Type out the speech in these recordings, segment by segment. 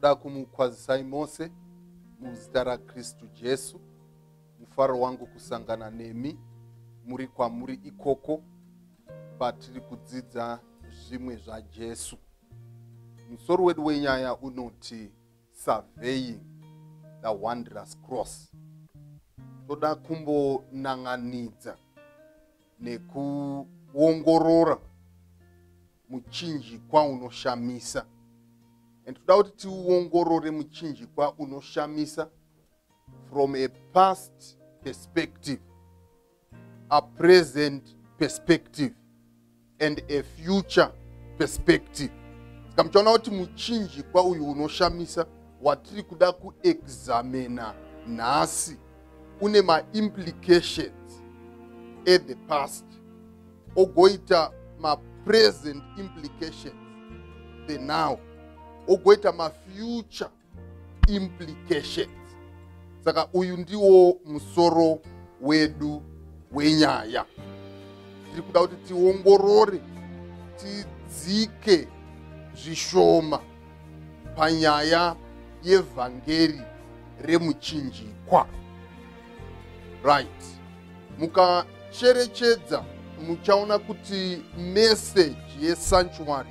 toda kumukwazisai mose muzita rakristu jesu mufaro wangu kusangana nemi muri kwamuri ikoko patiri kudzidza zvimwe zvajesu musoro wedu wenyaya unoti surveying the wondrous cross toda kumbonan'anidza nekuongorora muchinjikwa unoshamisa and toda kuti tiuongorore muchinjikwa unoshamisa from a past perspective a present perspective and a future perspective saka muchaona kuti muchinjikwa uyu unoshamisa watiri kuda kuexamina nhasi une maimplications at the past ogoita mapresent implications the now ogoita mafuture implications saka uyu ndiwo musoro wedu wenyaya tiri kuda kuti tiongorore tidzike zvishoma panyaya yevhangeri remuchinjikwa right mukacherechedza muchaona kuti meseji yesanctuary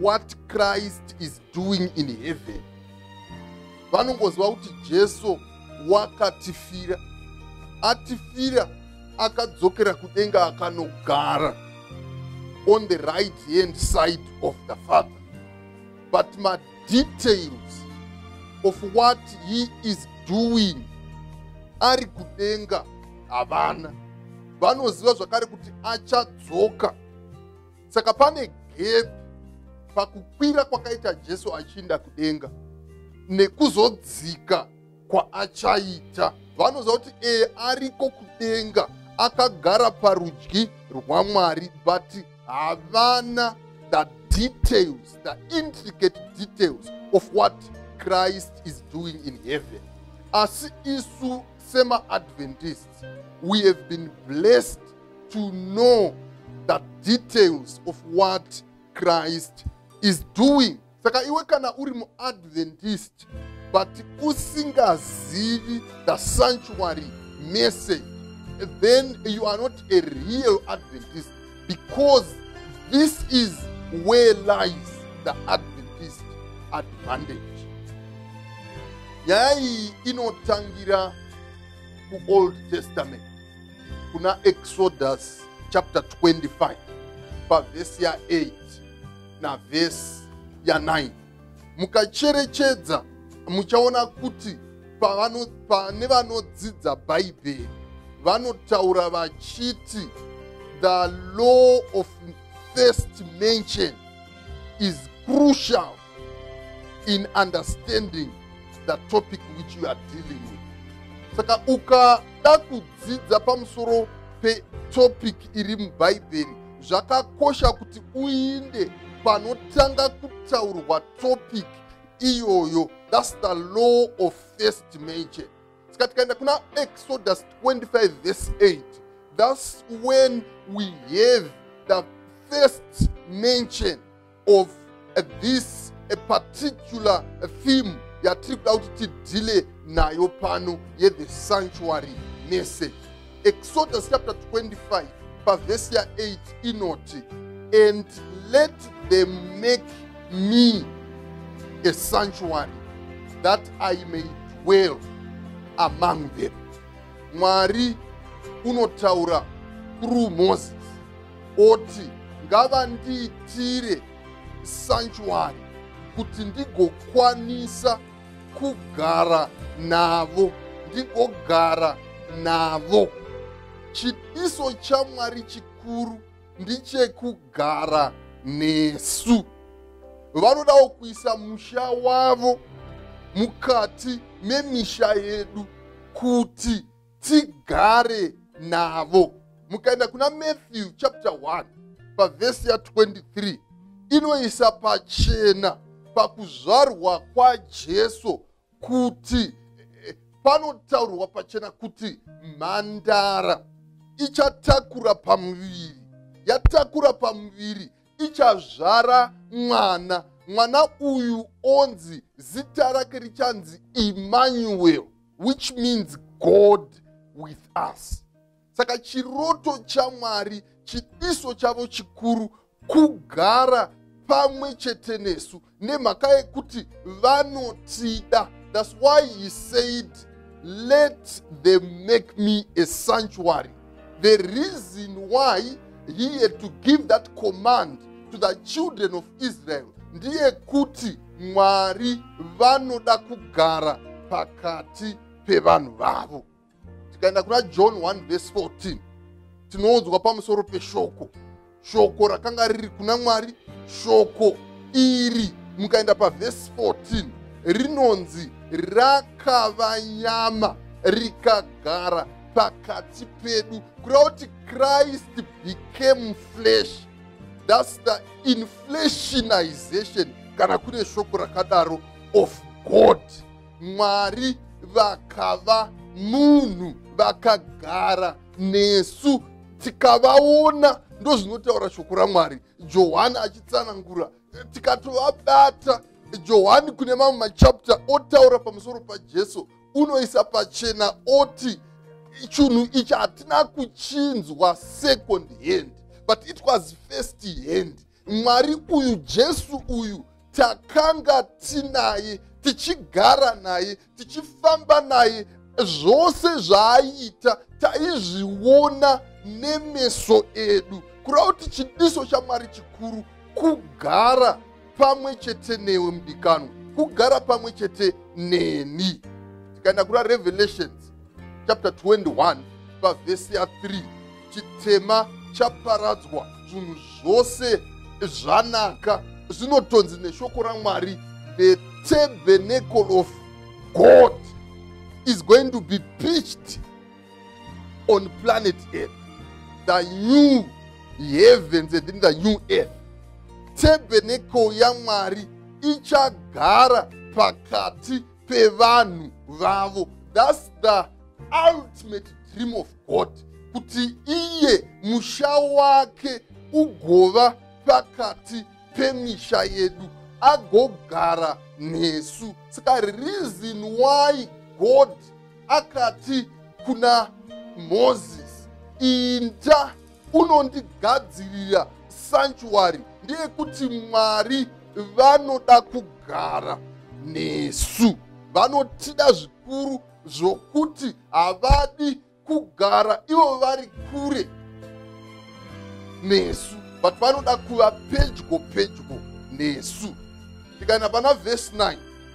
what christ is doing in heaven vanongoziva kuti jesu wakatifira atifira akadzokera kudenga akanogara on the right hand side of the father but madetails of what he is doing ari kudenga havana vanoziva zvakare kuti achadzoka saka pane gepi pakukwira kwakaita jesu achiinda kudenga nekuzodzika kwaachaita vanoziva kuti ee ariko kudenga akagara parudyi rwamwari but havana the details the intricate details of what christ is doing in heaven asi isu semaadventists we have been blessed to know the details of what christ is doing saka iwe kana uri muadventist but usingazivi the sanctuary message then you are not a real adventist because this is where lies the adventist advantage nyaya iyi inotangira kuold testament kuna exodus chapter 25 pavhesi ya8 navhesi ya9 mukacherechedza muchaona kuti pane vanodzidza bhaibheri vanotaura vachiti the law of first mention is crucial in understanding the topic which you are dealing with saka ukada kudzidza pamusoro petopic iri mubhaibheri zvakakosha kuti uinde panotanga kutaurwa topic iyoyo thats the law of first major saka tikaenda kuna exodus 25 vese 8 thats when we have the first mention of uh, this a particular theme yatiri kuda kuti tidhile nayo pano yethe sanctuary message exodus chapter 25 pavhesi ya8 inoti and let them make me a sanctuary that i may dwell among them mwari unotaura through moses oti ngavandiitire sanchuari kuti ndigokwanisa kugara navo ndigogara navo chidiso chamwari chikuru ndichekugara nesu vanodawo kuisa musha wavo mukati memisha yedu kuti tigare navo mukaenda kuna matthew chapter 1 pavhesi ya 23 inoisa pachena pakuzvarwa kwajesu kuti eh, panotaurwa pachena kuti mhandara ichatakura pamuviri yatakura pamuviri ichazvara mwana mwana uyu onzi zita rake richanzi emmanuel which means god with us saka chiroto chamwari chidiso chavo chikuru kugara pamwe chete nesu nemhaka yekuti vanotida thats why he said let them make me a sanctuary the reason why he had to give that command to the children of israel ndiye kuti mwari vanoda kugara pakati pevanhu vavo tikaenda kuna john 1 vese 14 tinoudzwa pamusoro peshoko shoko rakanga riri kuna mwari shoko iri mukaenda pavhesi 14 rinonzi rakava nyama rikagara pakati pedu kureva kuti christ became flesh thats the inflationization kana kune shoko rakadaro of god mwari vakava munhu vakagara nesu tikavaona ndozvinotaura shoko ramwari johani achitsanangura tikatovabata johani kune mamwe machapta otaura pamusoro pajesu unoisa pachena oti chinhu ichi hatina kuchinzwa second hand but it was first hand mwari uyu jesu uyu takanga tinaye tichigara naye tichifamba naye zvose zvaaita taizviona nemeso edu kureva kuti chidiso chamwari chikuru kugara pamwe chete newe mudikanwa kugara pamwe chete neni tikaenda kuna revelations chapter 21 pavhesi ya 3 chitema chaparadzwa zvinhu zvose zvanaka zvinotonzi neshoko ramwari the tabernacle of god is going to be pitched on planet earth the new heavens and the new earth tabernacle yamwari ichagara pakati pevanhu vavo thats the ultimate dream of god kuti iye musha wake ugova pakati pemisha yedu agogara nesu saka reason why god akati kuna mozisi inda unondigadzirira sanchuwari ndeyekuti mwari vanoda kugara nesu vanotida zvikuru zvokuti havadi kugara ivo vari kure nesu but vanoda kuva pedyo pedyo nesu tikaenda pana vhesi 9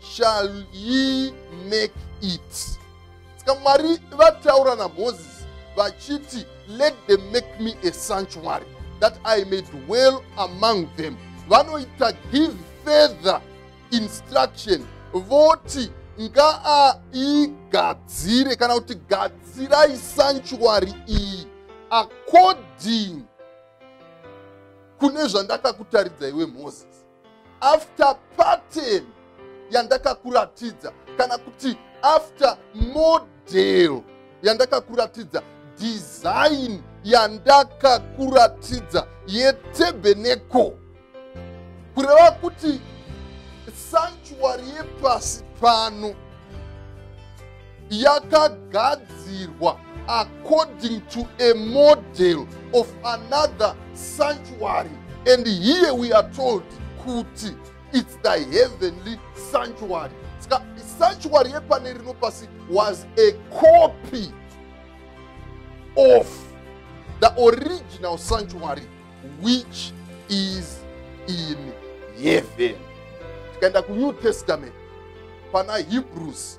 shall ye make it saka mwari vataura namozisi vachiti let them make me a sanctuary that i may dwell among them vanoita give further instruction voti ngaaigadzire kana kuti gadzirai sanctuary iyi according kune zvandakakutaridza iwe moses after pattern yandakakuratidza kana kuti after model yandakakuratidza design yandakakuratidza yetebeneko kureva kuti sanctuary yepasi pano yakagadzirwa according to a model of another sanctuary and here we are told kuti it's the heavenly sanctuary ska sanctuary yepane rino pasi was a copy of the original sanctuary which is in heaven tikaenda kunew testament pana hebrews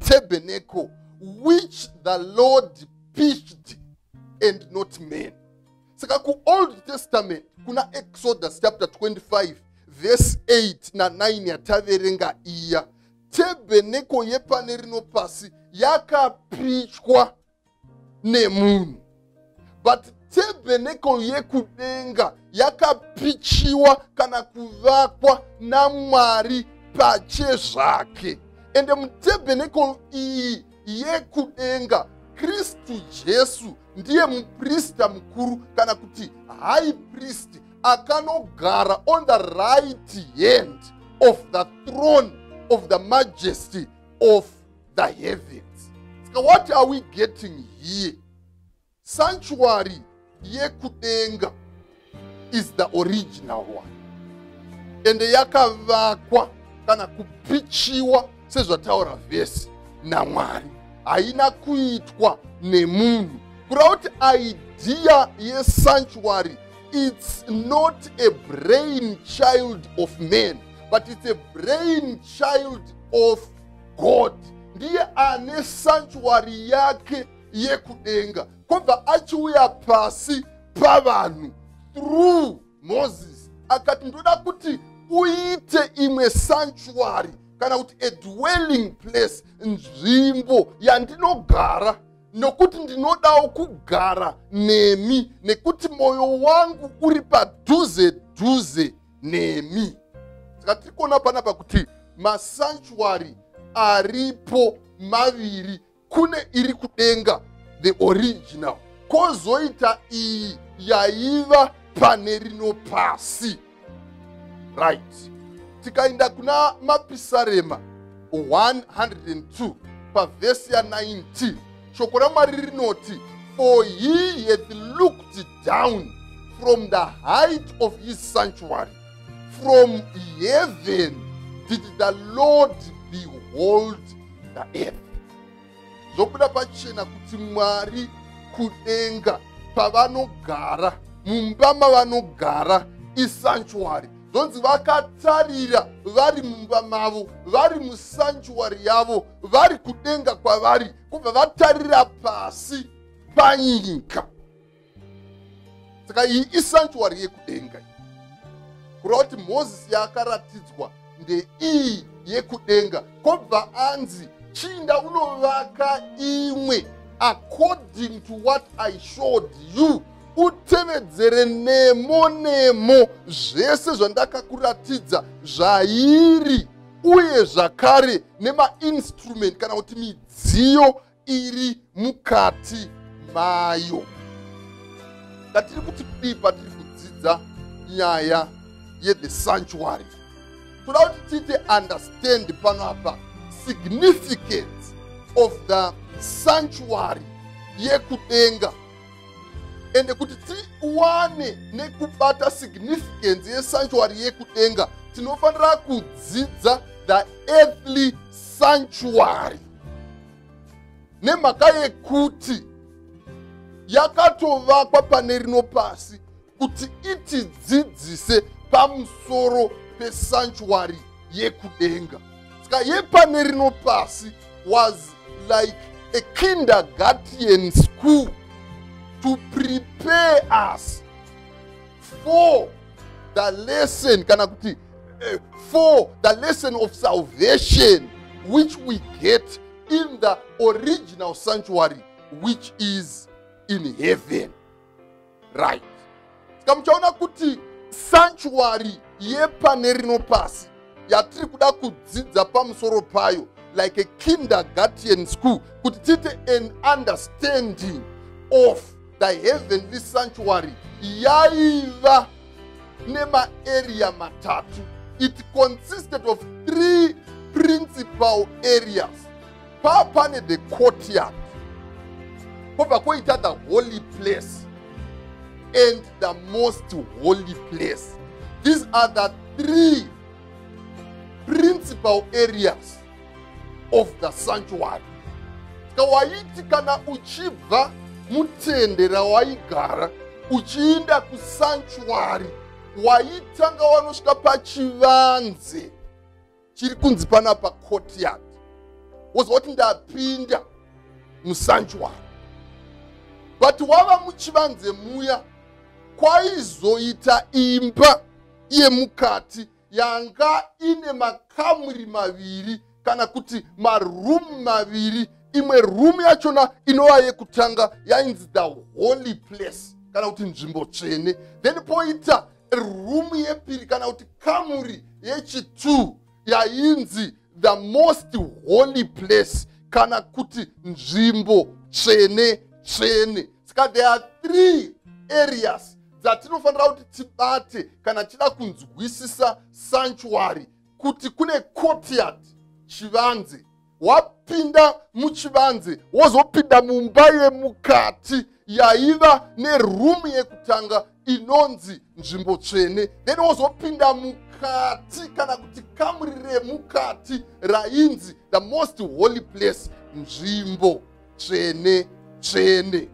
tabernacle which the lord pitched and not man saka kuold testament kuna exodus chapter 25 verse 8 na9 yataverenga iya tabernacle yepane rino pasi yakapichwa nemunhu but tebhenekol yekudenga yakapichiwa kana kuvakwa namwari pache zvake ende mutebhenekol iyi yekudenga kristu jesu ndiye muprista mukuru kana kuti high priest akanogara on the right hand of the throne of the majesty of the heavens ska what are we getting here sanctuary yekudenga is the original one ende yakavakwa kana kupichiwa sezvataura vhesi namwari haina kuitwa nemunhu kureva kuti idea yesanctuary it's not a brain child of man but it's a brain child of god ndiye ane sanchuari yake yekudenga kwobva achiuya pasi pavanhu through moses akati ndoda kuti uite imwe sanchuari kana kuti a dwelling place nzvimbo yandinogara nokuti ndinodawo kugara nemi nekuti mwoyo wangu uri padhuze dhuze nemi saka tiri kuona panapa kuti masanchwari aripo maviri kune iri kudenga the original kozoita iyi yaiva pane rino pasi right tikaenda kuna mapisarema 102 pavhesi ya 19 shoko ramwari rinoti for he hath looked down from the height of his sanctuary, from heaven did the Lord behold the earth. Zvobuda pachena kuti Mwari kudenga pavanogara mumba mavanogara isanctuary zvonzi vakatarira vari mumba mavo vari musanctuary yavo vari kudenga kwavari kubva vatarira pasi panyika saka iyi isantuary yekudenga kureva kuti mozisi yaakaratidzwa ndeiyi yekudenga kobva anzi chinda unovaka imwe according to what i showed you utevedzere nemo nemo zvese zvandakakuratidza zvairi uye zvakare nemainstrument kana kuti midziyo iri mukati mayo ndatiri kuti kudii patiri kudzidza nyaya yethe sanctuary toda kuti tiite understand pano apa significance of the sanctuary yekudenga ende kuti tiwane nekubata significance yesanctuary yekudenga tinofanira kudzidza the earthly sanctuary nemhaka yekuti yakatovakwa pane rino pasi kuti itidzidzise pamusoro pesanchwari yekudenga ska yepane rino pasi was like a kindergarten school to prepare us for the lesson kana kuti uh, for the lesson of salvation which we get in the original sanctuary which is in heaven right ska muchaona kuti sanctuary yepane rino pasi yatiri kuda kudzidza pamusoro payo like a kindergarten school kuti tiite an understanding of the heavenly sanctuary yaiva nemaarea matatu it consisted of three principal areas paa pane the courtyard kobva koita the holy place and the most holy place these are the three principal areas of the sanctuary ska waiti kana uchibva mutende rawaigara uchiinda kusanctuary waitanga wanosvika pachivanze chiri kunzi pana pa courtyard wozva kuti ndapinda musanjuwaro but wava muchivanze muya kwaizoita imba yemukati yanga ine makamuri maviri kana kuti maroom maviri imwe room yachona inova yekutanga yainzi the holy place kana kuti nzvimbo tsvene then poita rumu yepiri kana kuti kamuri yechitwo yainzi the most holy place kana kuti nzvimbo tsvene tsvene saka there are three areas dzatinofanira kuti tibate kana tichida kunzwisisa sanctuary kuti kune courtyard chivanze wapinda muchivanze wozopinda mumba yemukati yaiva nerumu yekutanga inonzi nzvimbo tsvene then wozopinda mukati kana kuti kamuri remukati rainzi the most holy place nzvimbo tsvene tsvene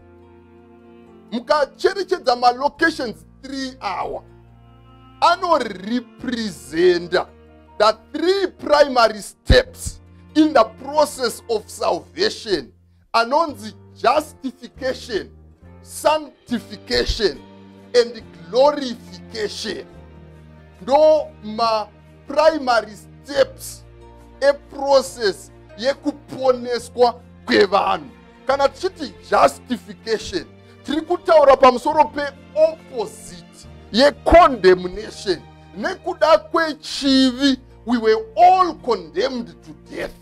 mukacherechedza malocations 3 awa anorepresenta the three primary steps in the process of salvation anonzi justification sanctification and glorification ndo ma primary steps eprocess yekuponeswa kwevanhu kana tichiti justification tiri kutaura pamusoro peopposite yecondemnation nekuda kwechivi we were all condemned to death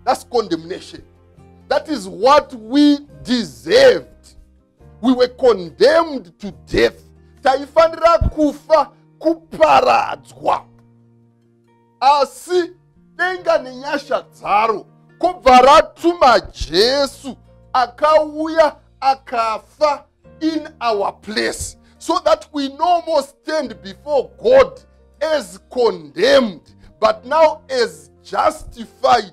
that's condemnation that is what we deserved we were condemned to death taifanira kufa kuparadzwa asi denga nenyasha dzaro kobva ratuma jesu akauya akafa in our place so that we no more stand before god as condemned but now as justified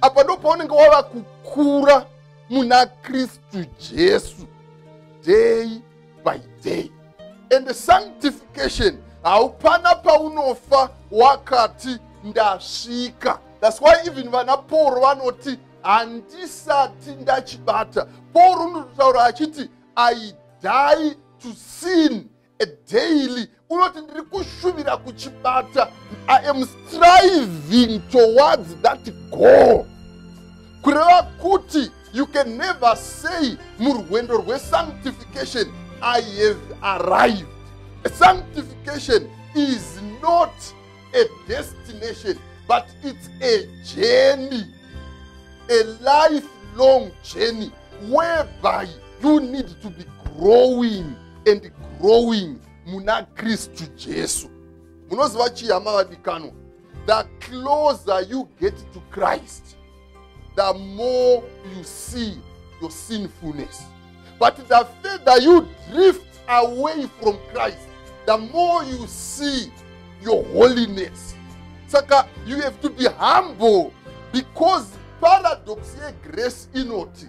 apa ndo paunenge wava kukura muna kristu jesu day by day and sanctification haupana paunofa wakati ndasvika thats why even vana pauro vanoti handisati ndachibata pauro unototaura achiti i die to sin a daily unoti ndiri kushuvira kuchibata i am striving towards that goal kureva kuti you can never say murwendo rwesanctification i have arrived sanctification is not a destination but it's a journey a lifelong journey whereby you need to be growing and growing muna kristu jesu munoziva chii hama vadikanwa the closer you get to christ the more you see your sinfulness but the further you drift away from christ the more you see your holiness saka you have to be humble because paradox yegrace inoti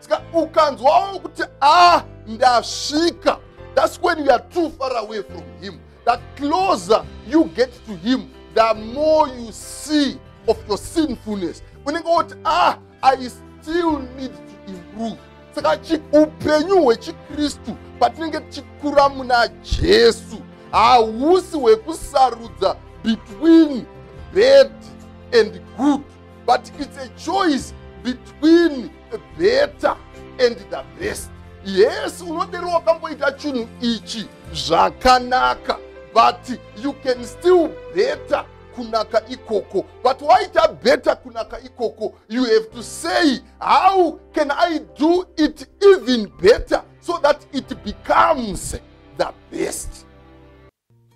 saka ukanzwawo kuti a ah, ndasvika thats when you are too far away from him the closer you get to him the more you see of your sinfulness unenge woti a ah, i still need to improve saka upenyu hwechikristu patinenge tichikura muna jesu hausi hwekusarudza between bad and good but it's a choice between the better and the best yes unodero wakamboita chinhu ichi zvakanaka but you can still better kunaka ikoko but waita better kunaka ikoko you have to say how can i do it even better so that it becomes the best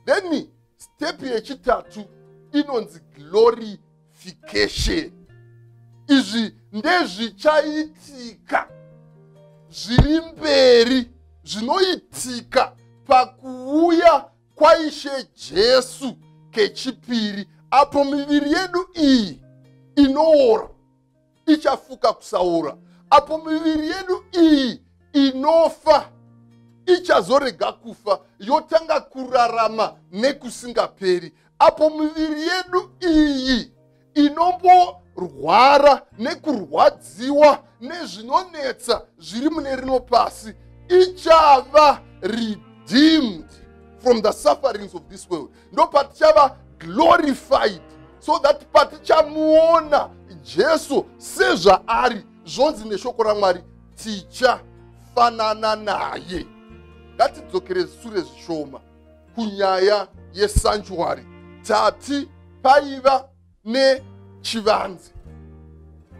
then step yechitatu inonzi glory fication izvi ndezvichaitika zviri mberi zvinoitika pakuuya kwaishe jesu kechipiri apo miviri yedu iyi inoora ichafuka kusaora apo miviri yedu iyi inofa ichazorega kufa yotanga kurarama nekusingaperi apo miviri yedu iyi inomborwara nekurwadziwa nezvinonetsa zviri mune rino pasi ichava redeemed from the sufferings of this world ndopatichava glorified so that patichamuona jesu sezvaari zvonzi neshoko ramwari tichafanana naye ngatidzokere sure zvishoma kunyaya yesanjuwari tati paiva nechivanze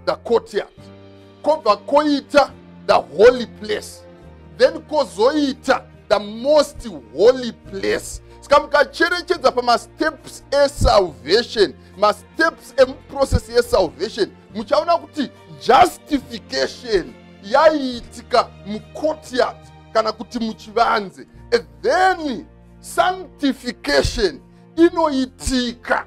the courtyard kobva koita the holy place then kozoita the most holy place ska mukacherechedza pamasteps esalvation masteps emuprocess yesalvation muchaona kuti justification yaiitika mucourtyard kana kuti muchivanze then sanctification inoitika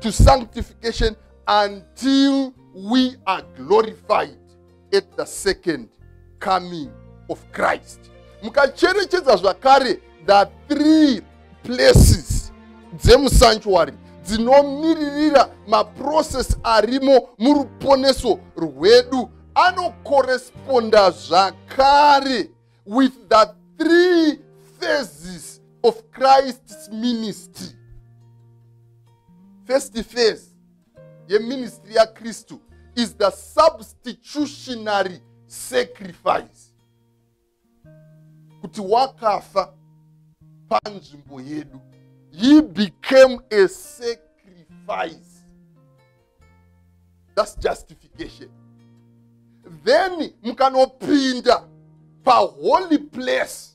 to sanctification until we are glorified at the second coming of christ mukacherechedza zvakare the three places dzemusanctuary dzinomiririra maprocess arimo muruponeso rwedu anokoresponda zvakare with the three phases of christ's ministry first phase yeministry yakristu is the substitutionary sacrifice kuti wakafa panzvimbo yedu he became a sacrifice thats justification then mukanopinda paholy place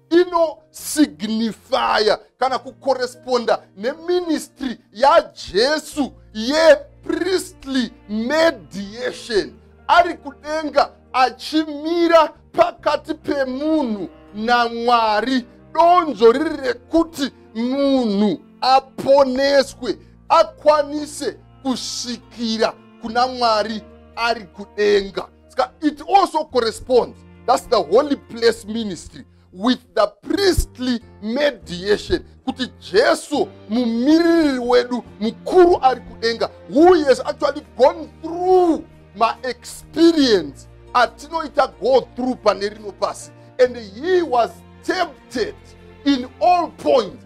inosignifya kana kukoresponda neministry yajesu yepriestly mediation ari kudenga achimira pakati pemunhu namwari donzvo riri rekuti munhu aponeswe akwanise kusvikira kuna mwari ari kudenga ska it also corresponds thats the holy place ministry with the priestly mediation kuti jesu mumiririri wedu mukuru ari kudenga who has actually gone through maexperience atinoita go through pane rino pasi and he was tempted in all points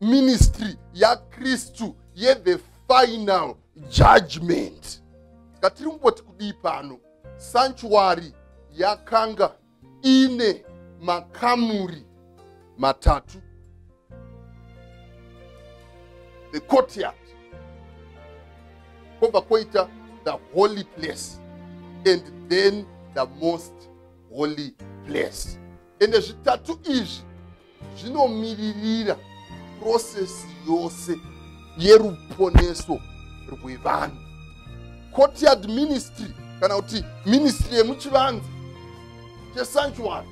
ministry yakristu yethe final judgment ska tiri kumboti kudii pano sanchuwari yakanga ine makamuri matatu the courtyard kwobva kwoita the holy place and then the most holy place ende zvitatu izvi zvinomiririra prosesi yose yeruponeso rwevanhu courtyard ministry kana kuti ministry yemuchivanzi chesanctuary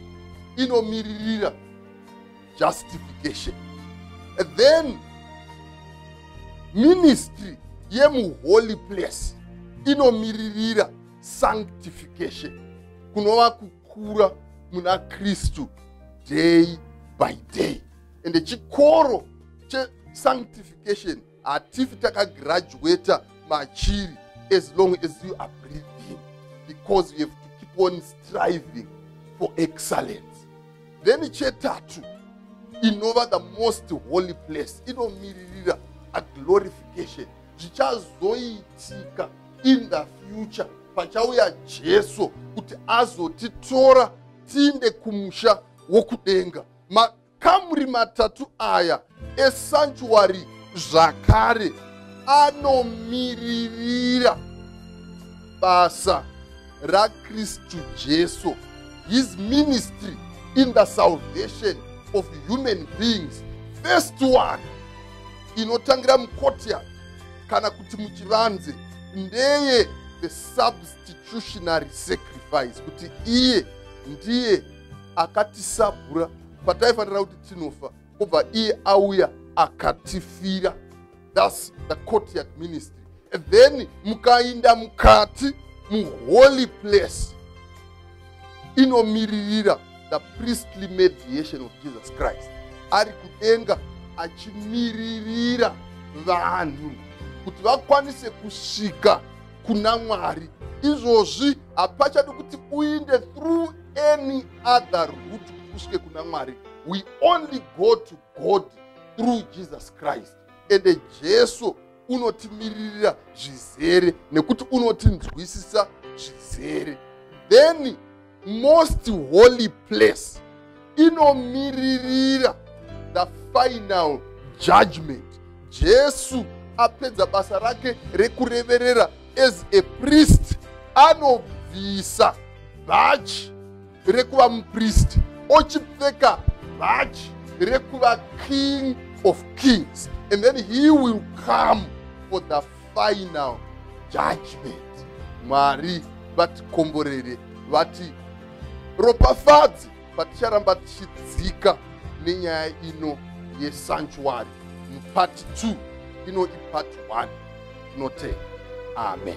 inomiririra justification then ministry yemuholy place inomiririra sanctification kunova kukura muna kristu day by day ende chikoro chesanctification hatifi takagraduata machiri as long as you are breathing because you have to keep on striving for excellence then chetatu inova the most holy place inomiririra aglorification zvichazoitika in the future pachauya jesu kuti azotitora tiinde kumusha wokudenga makamuri matatu aya esanchuari zvakare anomiririra basa rakristu jesu his ministry in the salvation of human beings first one inotangira mucourtyard kana kuti muchivanze ndeye the substitutionary sacrifice kuti iye ndiye akatisabhura pataifanira kuti tinofa obva iye auya akatifira thus the courtyard ministry then mukainda mukati muholy place inomiririra the priestly mediation of jesus christ ari kudenga achimiririra vanhu kuti vakwanise kusvika kuna mwari izvozvi hapachadi kuti uinde through any other root kusvike kuna mwari we only go to god through jesus christ ende jesu unotimiririra zvizere nekuti unotinzwisisa zvizere then most holy place inomiririra the final judgment jesu apedza basa rake rekureverera as a priest anobvisa bhachi rekuva mupristi ochipfeka bhachi rekuva king of kings and then he will come for the final judgment mwari vatikomborere vati ropafadzi paticharamba tichidzika nenyaya ino yesanctuary mupart 2 ino ipart 1 tinotenda amen